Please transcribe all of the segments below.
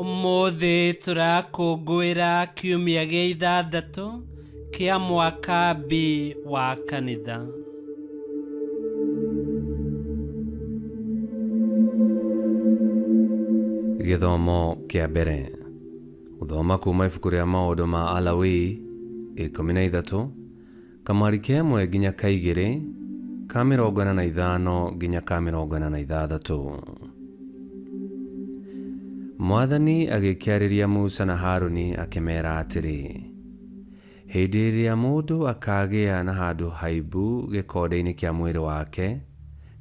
Ũmũthĩ tũrakũngũĩra kiumia gĩa ithathatũ kĩa mwaka B wa kanitha. Gĩthomo kĩa mbere. Gũthoma kuuma ibuku rĩa maũndũ ma Alawii ikũmi na ithatũ Kamweri ka ĩmwe nginya ka igĩrĩ, ka mĩrongo ĩna na ithano nginya ka mĩrongo ĩna na ithathatũ. Mwathani agĩkĩarĩria Musa na Haruni akĩmera atĩrĩ, Hĩndĩ ĩrĩa mũndũ akaagĩa na handũ haimbu gĩkonde-inĩ kĩa mwĩrĩ wake,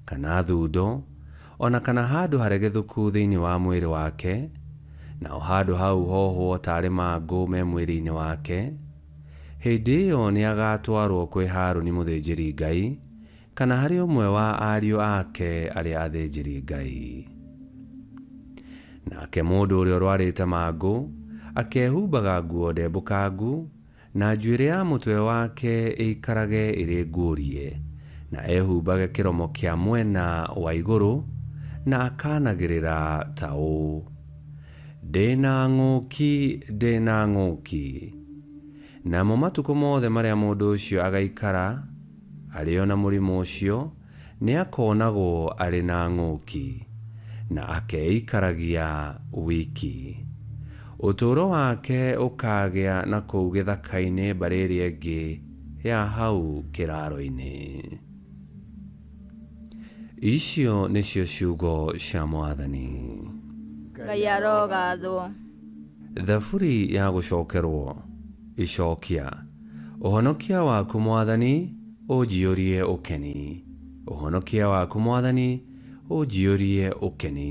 kana thundo, o na kana handũ haregethũku thĩinĩ wa mwĩrĩ wake, naho handũ hau hohwo taarĩ mangũ me mwĩrĩ-inĩ wake, Hĩndĩ ĩyo nĩagaatwarwo kwĩ Haruni mũthĩnjĩri-Ngai, kana harĩ ũmwe wa ariũ ake arĩa athĩnjĩri-Ngai. Nake mũndũ ũrĩa ũrwarĩte mangũ akehumbaga nguo ndembũkangu, na njuĩrĩ ya mũtwe wake ĩikarage ĩrĩ nguũrie, na ehumbage kĩromo kĩa mwena wa igũrũ, na akaanagĩrĩra ta ũũ, Ndĩ na ng'ũki, ndĩ na ng'ũki. Namo matukũ mothe marĩa mũndũ ũcio agaikara arĩ o na mũrimũ ũcio, nĩ akonagwo arĩ na ng'ũki, na akeikaragia wiki. Ũtũũro wake ũkaagĩa na kũu gĩthaka-inĩ mbarĩ ĩrĩa ĩngĩ ya hau kĩraaro-inĩ. icio nĩcio ciugo cia mwathani ngai arogathwo thaburi ya gũcokerwo icokia ũhonokia waku mwathani ũnjiyũrie ũkeni ũhonokia waku mwathani ũnjiyũrie ũkeni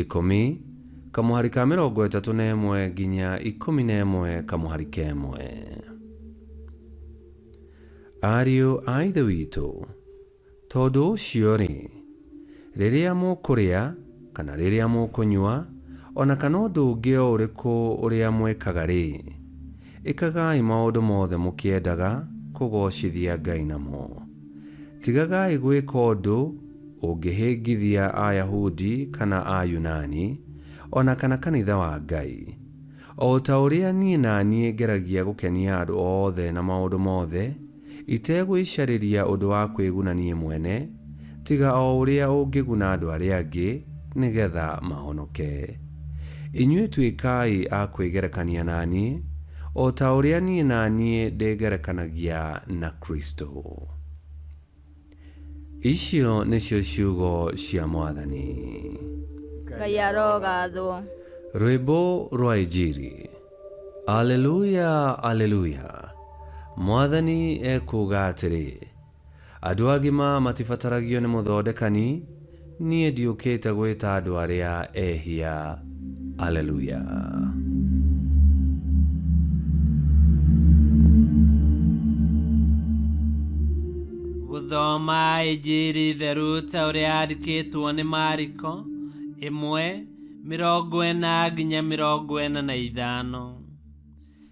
Ikũmi, kamũhari ka mĩrongo ĩtatũ na ĩmwe nginya ikũmi na ĩmwe kamũhari ka ĩmwe. Ariũ a Ithe witũ, tondũ ũcio-rĩ, rĩrĩa mũkũrĩa, kana rĩrĩa mũkũnyua, o na kana ũndũ ũngĩ o ũrĩkũ ũrĩa mwĩkaga-rĩ, Ĩkagai maũndũ mothe mũkĩendaga kũgoocithia Ngai namo. Tigagai gwĩka ũndũ ũngĩhĩngithia Ayahudi kana Ayunani, o na kana kanitha wa Ngai. O ta ũrĩa niĩ na niĩ ngeragia gũkenia andũ othe na maũndũ mothe, Itegwĩcarĩria ũndũ wa kwĩguna niĩ mwene, tiga o ũrĩa ũngĩguna andũ arĩa angĩ, nĩ getha mahonoke. Inyuĩ tuĩkai a kwĩgerekania na niĩ, o ta ũrĩa niĩ na niĩ ndĩgerekanagia na Kristo. Icio nĩcio ciugo cia mwathani. ngai arogathwo Rwĩmbo rwa Injiri. Aleluya, aleluya. Mwathani ekuuga atĩrĩ, andũ agima matibataragio nĩ mũthondekani, Niĩ ndiũkĩte gwĩta andũ arĩa ehia. Alleluia. Gũthoma Injiri theru ta ũrĩa yandĩkĩtwo nĩ Mariko ĩmwe mĩrongo ĩna nginya mĩrongo ĩna na ithano.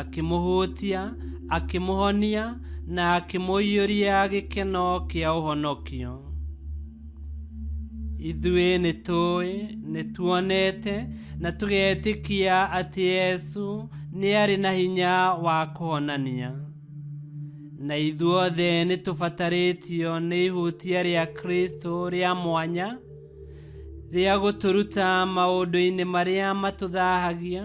akĩmũhũtia akĩmũhonia na akĩmũiyũria gĩkeno kĩa ũhonokio ithuĩ nĩ tũĩ nĩ tuonete na tũgetĩkia atĩ yesu nĩ arĩ na hinya wa kũhonania na ithuothe nĩ tũbatarĩtio nĩ ihutia rĩa kristo rĩa mwanya rĩa gũtũruta maũndũ-inĩ marĩa matũthahagia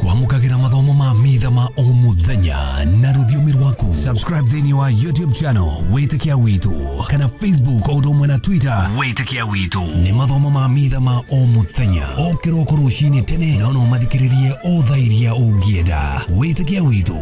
kwamũkagĩra mathomo ma mitha ma o mũthenya na rũthiomi rwaku subscribe thĩinĩ wa youtube channel wĩtĩkia witũ kana facebook o ũndũ ũmwe na twitter wĩtĩkia witũ nĩ mathomo ma mitha ma o mũthenya o kĩroko rũcinĩ tene na no ũmathikĩrĩrie o thaa iria ũngĩenda wĩtĩkia witũ